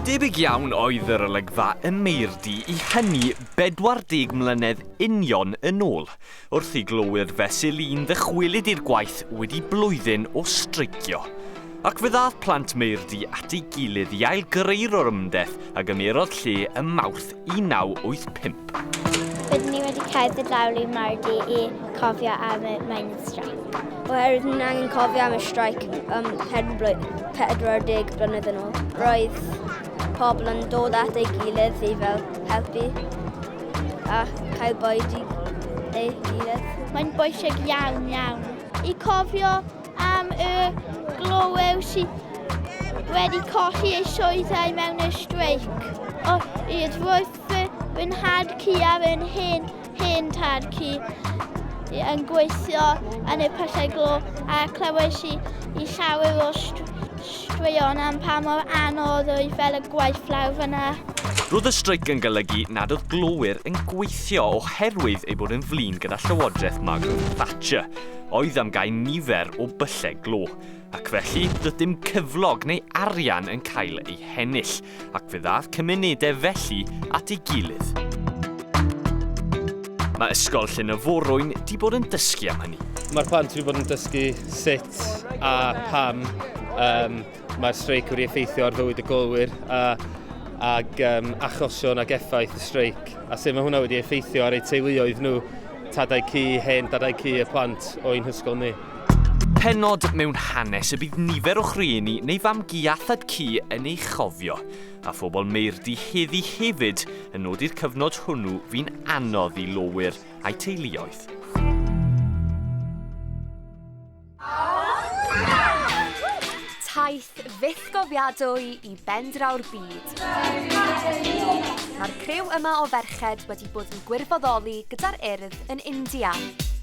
Debyg iawn oedd yr olygfa ym Meirdi i hynny 40 mlynedd union yn ôl, wrth i glowyr fesul un ddychwelyd i'r gwaith wedi blwyddyn o streicio. Ac fe ddath plant Meirdi at ei gilydd i ailgreu'r orymdeth a gymerodd lle ym Mawrth 1985. Rydyn ni wedi cerdded lawr i Mardi i cofio am y mining strike. Oherwydd ni'n angen cofio am y strike um, 40 blynedd yn ôl. Roedd pobl yn dod at ei gilydd i fel helpu a cael bwyd i ei gilydd. Mae'n bwysig iawn iawn i cofio Am y glyweu sydd wedi colli ei sioedau mewn y streic. O hyd roedd fy, fy nhad cu ar yn hen, hen tad cu yn gweithio yn y pyllau glo a clywais i, i llawer o straeon am pa mor anodd oedd fel y gwaith lawr fyna. Roedd y streic yn golygu nad oedd glowyr yn gweithio oherwydd ei bod yn flin gyda llywodraeth Margaret Thatcher. oedd am gau nifer o byllau glo, ac felly dydym cyflog neu arian yn cael ei hennill, ac fe ddaeth cymunedau felly at ei gilydd. Mae Ysgol Llyn y Forwyn di bod yn dysgu am hynny. Mae'r plant wedi bod yn dysgu sut a pam um, Mae'r streic wedi effeithio ar fywyd y golwyr a, ag um, achosion ag effaith y streic. A sut mae hwnna wedi effeithio ar eu teuluoedd nhw, tadau cu, hen dadau cu y plant o'n hysgol ni. Penod mewn hanes y bydd nifer o'ch rhieni neu fam gi a thad cu yn ei chofio, a phobl meirdi heddi hefyd yn nodi'r cyfnod hwnnw fi'n anodd i lowyr a'i teuluoedd. Taith fyth gofiadwy i bendraw'r byd. Mae'r criw yma o ferched wedi bod yn gwirfoddoli gyda'r Urdd yn India.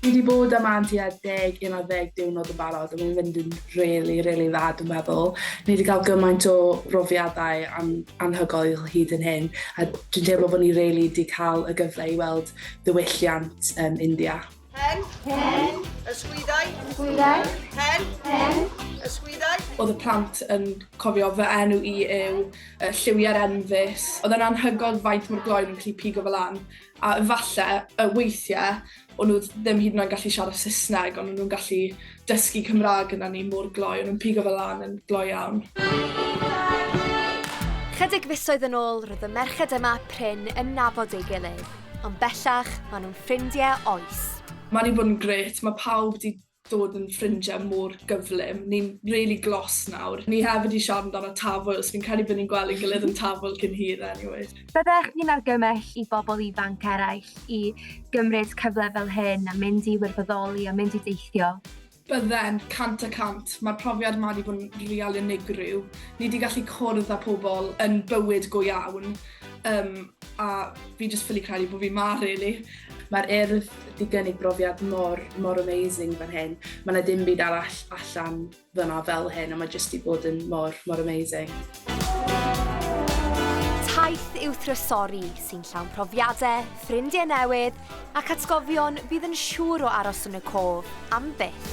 Fi wedi bod yma am tua deg, un ar ddeg diwrnod yn barod a mae'n fynd yn rili, rili dda dwi'n meddwl. Ni wedi cael gymaint o brofiadau an- anhygoel hyd yn hyn a dwi'n teimlo bod ni rili wedi cael y gyfle i weld diwylliant um, India. Hen. Hen. Ysgwyddau. Ysgwyddau. Hen. Hen. Ysgwyddau. Oedd y plant yn cofio fy enw i yw uh, lliwiau'r enfus. Oedd yn anhygoel faint mor gloen yn gallu pigo fel an. A efallai, uh, weithiau, o'n nhw ddim hyd yn oed gallu siarad Saesneg, ond o'n nhw'n gallu dysgu Cymraeg gyda ni mor gloi, o'n nhw'n pigo fe lan yn gloi iawn. Chydig fisoedd yn ôl, roedd y merched yma prin yn nabod ei gilydd, ond bellach, maen nhw'n ffrindiau oes. Mae wedi bod yn grêt, mae pawb wedi dod yn ffrindiau mor gyflym. Ni'n really glos nawr. Ni hefyd wedi siarad amdano Tafwyl, so fi'n credu bod ni'n gweld ein gilydd yn Tafwyl cyn hir anyway. Byddech chi'n argymell i bobl ifanc eraill i gymryd cyfle fel hyn a mynd i wirfoddoli a mynd i deithio? Byddem, cant y cant. Mae'r profiad yma wedi bod yn real unigryw. Ni wedi gallu cwrdd â pobl yn bywyd go iawn, um, a fi jyst ffili credu bod fi ma, really. Mae'r Urdd wedi gynnig brofiad mor, mor amazing fan hyn. Mae yna dim byd arall allan fan'na fel hyn a mae jyst 'di bod yn mor, mor amazing. Taith yw Thrysori sy'n llawn profiadau, ffrindiau newydd ac atgofion fydd yn siŵr o aros yn y cof am byth.